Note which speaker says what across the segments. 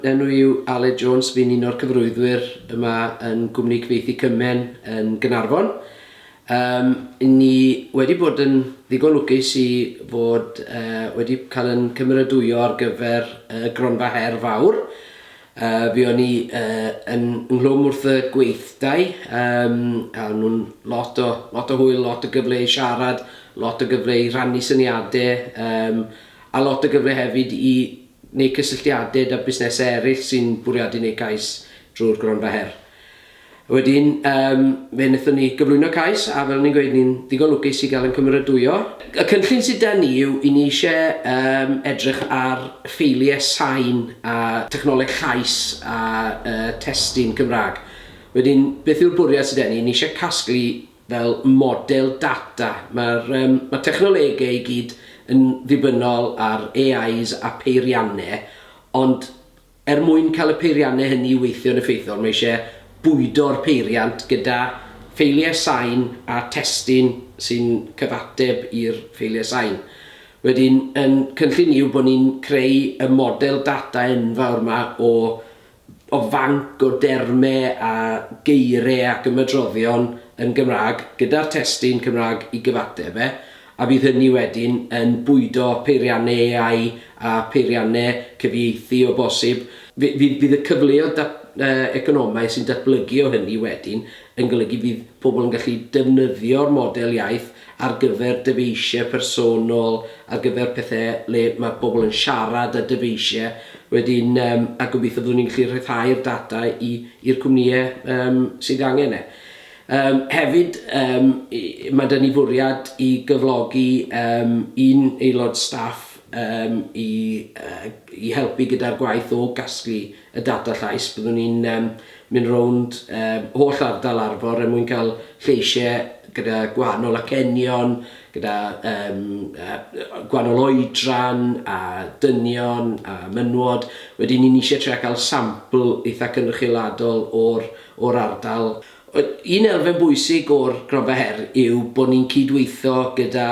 Speaker 1: Enw i yw Aled Jones, fi'n un o'r cyfarwyddwyr yma yn Gwmni Cyfieithu Cymen yn Gaernarfon. Um, ni wedi bod yn ddigon lwcus i fod uh, wedi cael yn cymeradwyo ar gyfer uh, gronfa her fawr. Uh, fi o'n i uh, yn nghlwm wrth y gweithdai, um, a nhw'n lot o, lot o hwyl, lot o gyfle i siarad, lot o gyfle i rannu syniadau, um, a lot o gyfle hefyd i neu cysylltiadau 'da busnesau eraill sy'n bwriadu neud cais drwy'r Gronfa Her. Wedyn yym fe wnaethon ni gyflwyno cais a fel o'n i'n gweud ni'n ddigon lwcus i gael ein cymeradwyo. Y cynllun sydd 'da ni yw i ni isie yym edrych ar ffeiliau sain a technoleg llais a yy testun Cymraeg. Wedyn beth yw'r bwriad sy 'da ni, ni isie casglu fel model data. Mae'r um, ma technolegau i gyd yn ddibynnol ar AIs a peiriannau, ond er mwyn cael y peiriannau hynny i weithio'n effeithiol, mae eisiau bwydo'r peiriant gyda ffeiliau sain a testun sy'n cyfateb i'r ffeiliau sain. Wedyn, yn cynllun ni yw bod ni'n creu y model data enfawr yma o o fanc o dermau a geiriau ac ymadroddion yn Gymraeg gyda'r testun Cymraeg i gyfateb e, a bydd hynny wedyn yn bwydo peiriannau AI a pheiriannau cyfieithu o bosib. Fydd y cyfleoedd economaidd sy'n datblygu o hynny wedyn yn golygu bydd pobl yn gallu defnyddio'r model iaith ar gyfer dyfeisiau personol, ar gyfer pethe le ma' pobl yn siarad a dyfeisiau wedyn yym a gobeithio byddwn ni'n gallu rhyddhau'r data i i'r cwmnïau yym sydd angen e. Yym hefyd yym i- i- ma' 'da ni fwriad i gyflogi yym un aelod staff yym i yy i helpu gyda'r gwaith o gasglu y data llais, byddwn ni'n yym mynd rownd yym holl ardal Arfor er mwyn cael lleisiau gyda gwahanol acenion, gyda yym yy gwahanol oedran a dynion a menywod, wedyn ni'n isie trio cael sampl eitha' cynrychioladol o'r o'r ardal. Wel, un elfen bwysig o'r Gronfa Her yw bod ni'n cydweithio gyda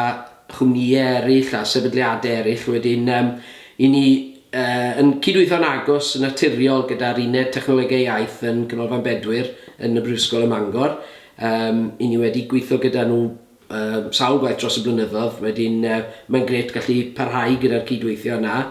Speaker 1: chwmnïau eraill a sefydliadau eraill wedyn yym i ni Yn cydweithio'n agos yn naturiol gyda'r Uned Technolegau Iaith yn Ganolfan Bedwyr yn y Brifysgol ym Mangor. Yym, 'yn ni wedi gweithio gyda nhw yym sawl gwaith dros y blynyddoedd, wedyn yy mae'n grêt gallu parhau gyda'r cydweithio yna.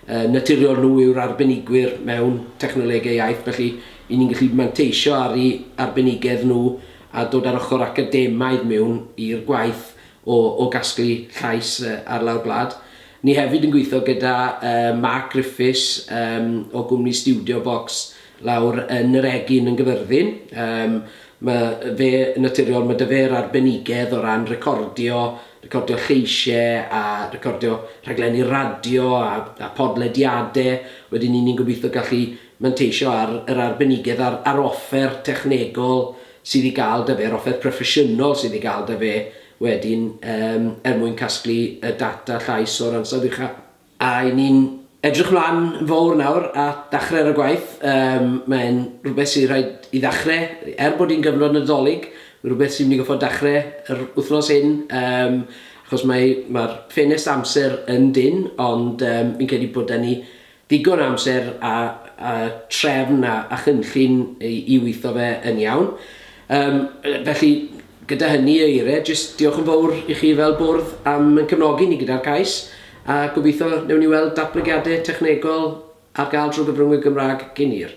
Speaker 1: Yn naturiol nhw yw'r arbenigwyr mewn technolegau iaith, felly 'yn ni'n gallu manteisio ar eu arbenigedd nhw a dod â'r ochr academaidd mewn i'r gwaith o o gasglu llais yy ar lawr gwlad. Ni hefyd yn gweithio gyda Mark Griffiths o gwmni Studio Box lawr yn yr Egin yn Gyfyrddin. Mae fe, yn naturiol, mae 'da fe'r arbenigedd o ran recordio, recordio lleisiau a recordio rhaglenni radio a podlediadau. Wedyn 'ny ni'n gobeithio gallu manteisio ar yr arbenigedd a'r offer technegol sydd i gael 'da fe, yr offer proffesiynol sydd i gael 'da fe. Wedyn, yym, er mwyn casglu y data llais o'r ansawdd ucha'. A 'y ni'n edrych 'mlan yn fowr nawr at ddachre ar y gwaith. Yym, mae'n rhywbeth sy rhaid i ddachre, er bod hi'n gyfnod Nadolig, mae'n rhywbeth sy'n mynd i goffod dachre yr wythnos hyn, yym, achos mae... ma'r ffenest amser yn dynn, ond yym, fi'n credu bod 'da ni Digon o amser a a trefn a a chynllun i i witho fe yn iawn. Yym yy felly gyda hynny o eire jyst diolch yn fowr i chi fel bwrdd am yn cefnogi ni gyda'r cais a gobitho newn ni weld datblygiade technegol ar ga'l drw gyfrwngwyr Gymrag gin hir.